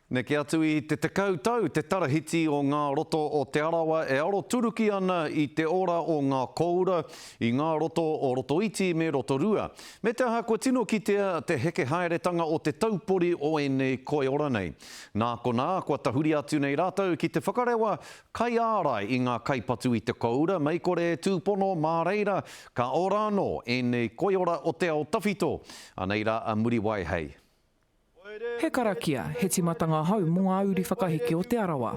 Neke atu i te tekau tau te tarahiti o ngā roto o Te Arawa e aroturuki ana i te ora o ngā kōura i ngā roto o Rotoiti me Rotorua. Me te aha kua tino kitea te heke haeretanga o te taupori o ēnei koiora nei. Nā konā, kua tahuri atu nei rātou ki te whakarewa kaiārai i ngā kaipatu i te kōura mei kore e tūpono mā reira ka ora anō ēnei koiora o te ao tawhito. Anei rā a Muriwai hei. He karakia, he timatanga hou mo nga uri whakaheke o Te Arawa.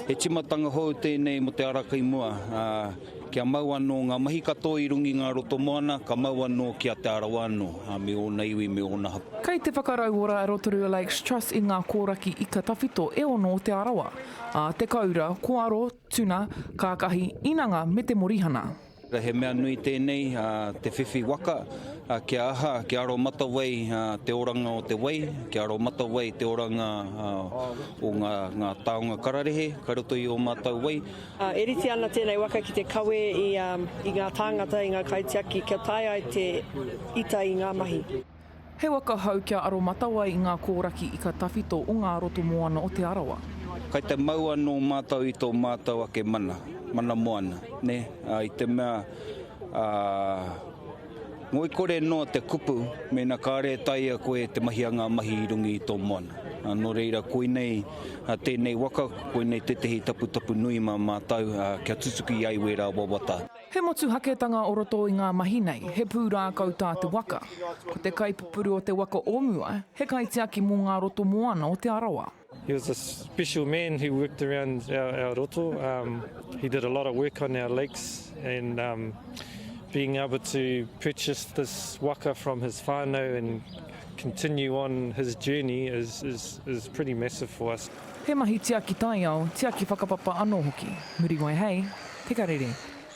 He timatanga hou tenei mo te ara kai mua, a, kia mau ano nga mahi katoa i runga i nga roto moana, ka mau ano ki a Te Arawa ano, a me ona iwi, me ona hapū. Kei te whakarauora a Rotorua Lakes Trust i nga koraki ika tawhito e ono o Te Arawa, a, te koura, koaro, tuna, kakahi, inanga me te morihana. He mea nui tēnei, te whiwhi waka, kia aha, kia aromatawai te oranga o te wai, kia aromatawai te oranga o ngā taonga kararehe kai roto i ō mātou wai. E rite ana tēnei waka ki te kawe i ngā tāngata, i ngā kaitiaki kia tae ai te ita i ngā mahi. He waka hou kia aromatawai i ngā kōraki ika tawhito o ngā roto moana o Te Arawa. Kai te mau anō mātou i tō mātou ake mana, mana moana, nē? Ā, i te mea, ā, ngoikore noa te kupu mēnā kāore e taea koe te mahia ngā mahi i runga i tō moana. Ā, nō reira, koinei tēnei waka, koinei tētehi taputapu nui mā mātou, ā, kia tutuki ai wērā wawata. He motuhaketanga o roto i ngā mahi nei, he pūrākau tā te waka. Ko te kaipupuru o te waka o mua, he kaitiaki mō ngā roto moana o Te Arawa. He was a special man who worked around our roto, he did a lot of work on our lakes and being able to purchase this waka from his whānau and continue on his journey is pretty massive for us. He mahi tiaki taiao, tiaki whakapapa anō hoki. Muriwai hei, Te Karere.